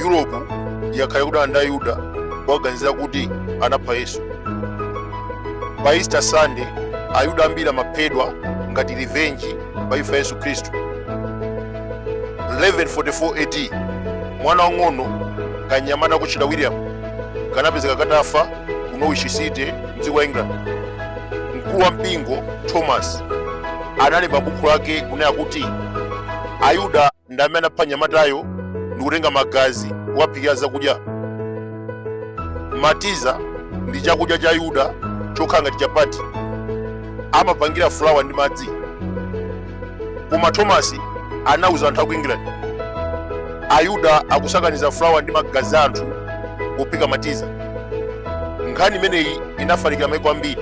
europe yakhala kudana ndi ayuda kuwaganizira kuti anapha yesu pa easter sunday ayuda ambiri amaphedwa ngati revenge pa imfa ya yesu khristu 1144 AD mwana wang'ono kanyamata kotchedwa william kanapezeka katafa ku norwich city mdziko la england mkulu wa mpingo thomas analemba bukhu lake kunena kuti ayuda ndi amene anapha mnyamatayo ndi kutenga magazi kuwaphikira zakudya matiza ndi chakudya cha ayuda chokhala ngati chapati amapangira fulawa ndi madzi koma thomas anauza anthu aku england ayuda akusakaniza fulawa ndi magazi a anthu pophika matiza nkhani imeneyi inafalikira maiko ambiri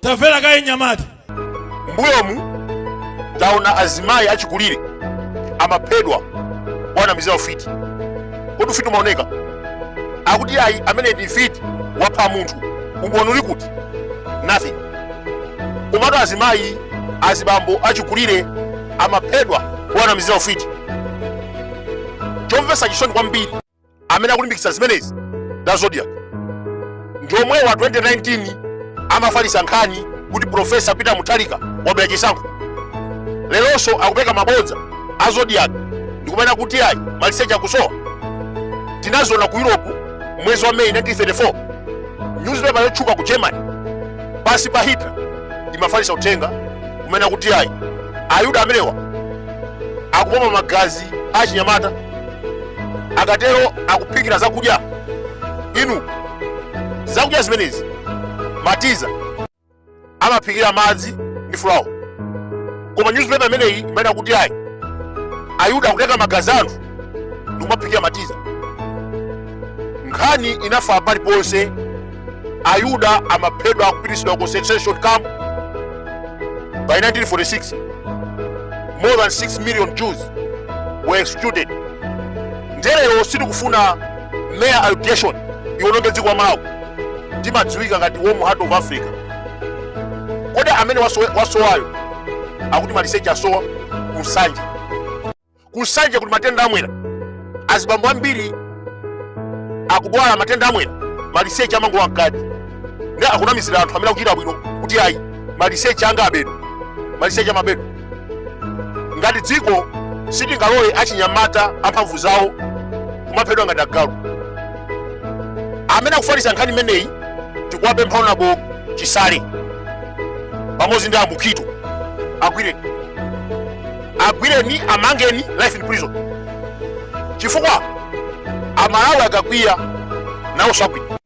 tamvera kaye mnyamata mbuyomu taona azimayi achikulire amaphedwa powanamizira ufiti kodi ufiti umaoneka akuti ayi amene ndi mfiti wapha munthu umboni uli kuti nothing komatu azimayi azibambo achikulire amaphedwa powanamizira ufiti chomvetsa chisoni kwambiri amene akulimbikitsa zimenezi ndi a zodiak ndi omwewa 2019 amafalitsa nkhani kuti profesa peter mutharika wabera chisankho leronso akupeka mabodza a zodiak ndikumanena kuti ayi maliseche akusowa tinaziona ku europe mwezi wa meyi 1934 newspaper yotchuka ku germany pansi pa hitler imafalitsa uthenga kumanena kuti ayi ayuda amenewa akupopa magazi achinyamata akatero akuphikira zakudya inu zakudya zimenezi matiza amaphikira madzi ndi fulawa koma newspaper imeneyi imanena kuti ayi ayuda akutenga magazi a anthu ndikumaphikira matiza nkhani inafala paliponse ayuda amaphedwa akupititsidwa ku concentration camp by 1946 more than 6 million jews were executed nde lero sitikufuna mere allegation iwononge dziko la malawi timadziwika ngati warm heart of africa kodi amene wasowayo akuti maliseche asowa ku nsanje ku nsanje kuli matenda a mwera azibambo ambiri akudwala matenda a mwera maliseche amangolowa mkati nde akunamizira anthu amene akuchita bwino kuti ayi maliseche anga abedwa maliseche amabedwa ngati dziko sitingalole achinyamata amphamvu zawo kumaphedwa ngati agalu amene akufalitsa nkhani imeneyi tikuwapempha honourable chisale pamodzi ndi a mukhito agwire agwireni amangeni life in prison chifukwa amalawi akakwiya nawo sakwiya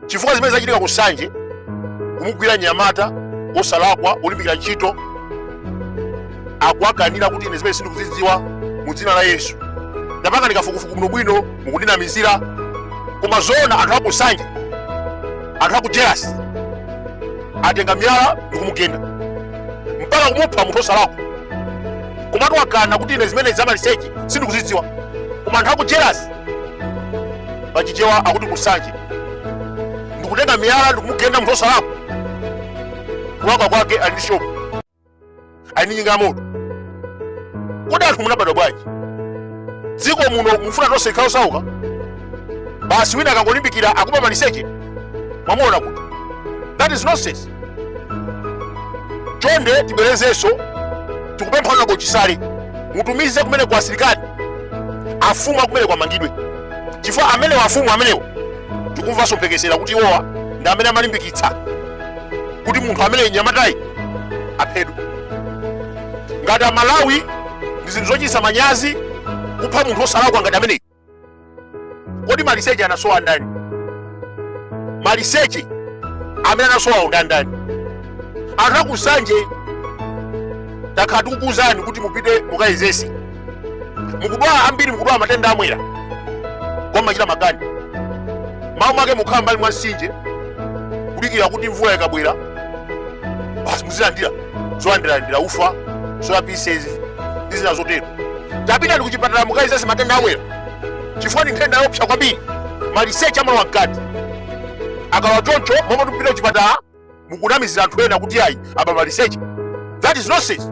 chifukwa zimene zachitika ku nsanje kumugwira mnyamata osalakwa olimbikira ntchito akuwakanira kuti ine zimenezi sindikuzidziwa mu dzina la yesu tapangani kafukufuku bwinobwino mukundinamizira koma zoona anthu aku nsanje anthu aku jealous atenga miyala ndikumugenda mpaka kumupha munthu osalakwa komatu wakana kuti ine zimene zamaliseche sindikuzidziwa koma anthu aku jealous pachichewa akuti ku nsanje ndikutenga miyala ndikumugenda munthu osalakwa kulakwa kwake ali ndi shopu ali ndi njinga ya moto kodi anthu munabadwa bwanji dziko muno mufuna tonse tikhale osauka basi wina akangolimbikira akuba maliseche mwamuona kuti that is nonsense chonde tibwerezenso tikupempha honourable chisale mutumize kumeneko asilikali amfumu akumeneko amangidwe chifukwa amenewa amfumu amenewo tikumvanso mphekesera kuti iwowa ndi amene amalimbikitsa kuti munthu amene mnyamatayu aphedwe ngati amalawi ndi zinthu zochititsa manyazi kupha munthu wosalakwa ngati ameneyi kodi maliseche anasowa ndani maliseche amene anasowawo ndandani anthu aku nsanje takhala tikukuuzani kuti mupite mukayezetse mukudwala ambiri mukudwala matenda amwera kumachita makani mmalo mwake mukhala mmbali mwa mtsinje kudikira kuti mvula ikabwera basi muzilandira zolandiralandira ufa soya pieces ndi zina zotero tapitani kuchipatala mukayezetse matenda amwerawo chifukwa ni nthenda yoopsa kwambiri maliseche amalowa mkati akalowa choncho mmalo moti mupite kuchipatala mukunamizira anthu ena kuti ayi aba maliseche that is nonsense